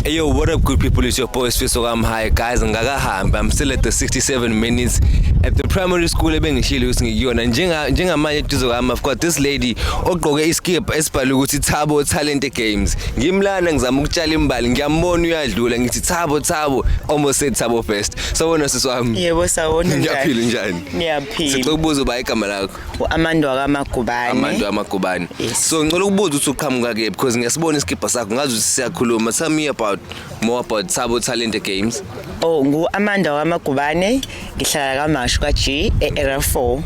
Hey yo, what up good people, it's your boy Sfiso Kamhaye guys, ngakahamba, I'm still at the 67 minutes at the primary school ebengishilo ukuthi ngikuyona njenga njengamanje eduze kwami I've got this lady ogqoke iskip esibhalwe ukuthi Thabo Talent Games ngimlana ngizama ukutshala imbali ngiyambona uyadlula ngithi Thabo Thabo almost said Thabo first sawona sisi wami yebo sawona ngiyaphila njani ngiyaphila sicokubuza uba igama lakho u-amantu wakamagubane amantu amagubane Yes. so ngicela ukubuza ukuthi uqhamuka ke because ngiyasibona isikibha sakho ngazi ukuthi siyakhuluma tell me about more about Thabo Talente Games Oh ngu-Amanda waMagubane ngihlala kaMashu ka-G e-Area 4.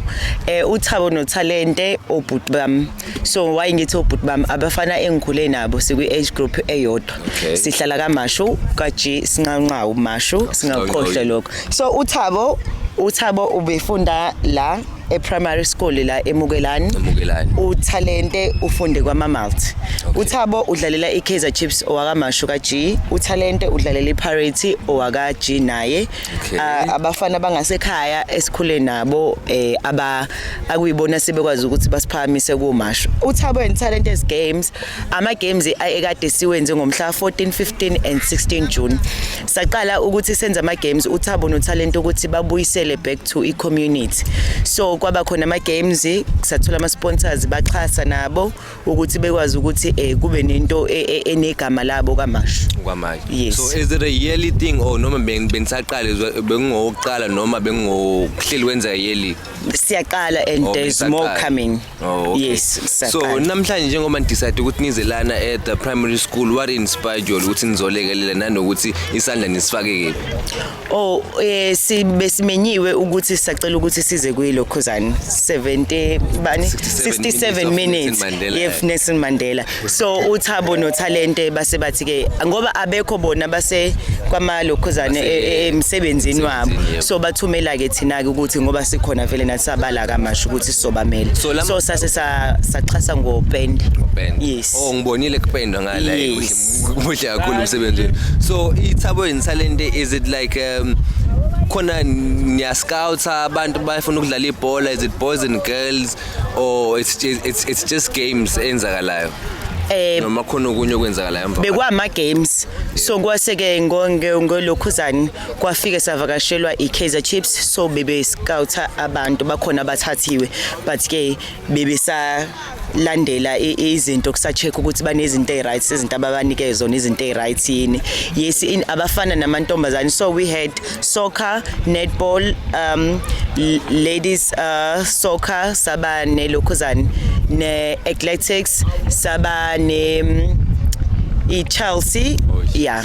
Eh uThabo noThalente obhuti bami. So why ngithi obhuti bami abafana engikhule nabo sikwi-age group eyodwa. Okay. Sihlala kaMashu ka-G sinqanqawu Mashu singakhohlwa lokho. So uThabo uThabo ubefunda la eprimary school la emukelani Emukelani. uthalente ufunde kwamamalt Okay. uthabo udlalela ikaizer chiefs owakamashu ka-g uthalente udlalela ipirate owaka-g naye Okay. Ah, abafana abangasekhaya esikhule nabo eh aba akuyibona sebekwazi ukuthi basiphakamise kumashu uthabo and talent as games ama games ekade siwenze ngomhla 14 15 and 16 June saqala ukuthi senze ama-games uthabo nothalente ukuthi babuyisele back to i-community so kwaba khona ama-games sathola ama-sponsors baxhasa nabo ukuthi bekwazi ukuthi um kube nento e, e, enegama labo kamasho kwamanje yes. so is it a yearly thing or noma benisaqale bengingowokuqala noma bengingokuhleli wenza yearly siyaqala and okay, there's more coming Oh, okay. Yes, so sisaqala. namhlanje njengoba nidecide ukuthi nize lana at the primary school what inspired you all ukuthi nizolekelela nanokuthi isandla nisifake kephi Oh eh sibe simenyiwe ukuthi sacela ukuthi size kuyilo khuzani 70 bani 67 minutes of Nelson Mandela. yef Nelson Mandela so uthabo nothalente base bathi ke ngoba abekho bona base kwamalokhuzane e- e- emsebenzini wabo so bathumela ke thina ke ukuthi ngoba sikhona vele nathi sabala kamasho ukuthi sizobamela So lama- so sase sa- saxhasa ngopende Kupenda. yes Oh ngibonile kupendwa ngala Yes. kuhle kuhle kakhulu umsebenzi wenu. So ithabo and talent is it like um khona niya scouts abantu bafuna ukudlala ibhola is it boys and girls or it's just, it's, it's just games enzakalayo eh noma khona okunye okwenzakalayo emva bekwama games so kwase ke ngonge ngolokhuzani kwafike savakashelwa iKaizer Chiefs so bebe scouter abantu bakhona abathathiwe but ke bebe sa landela izinto kusacheck ukuthi banezinto eziright izinto ababanike zona izinto eziright yini yes abafana namantombazane so we had soccer netball um ladies uh, soccer saba ne lokhuzani ne athletics saba ne um, i Chelsea oh, yeah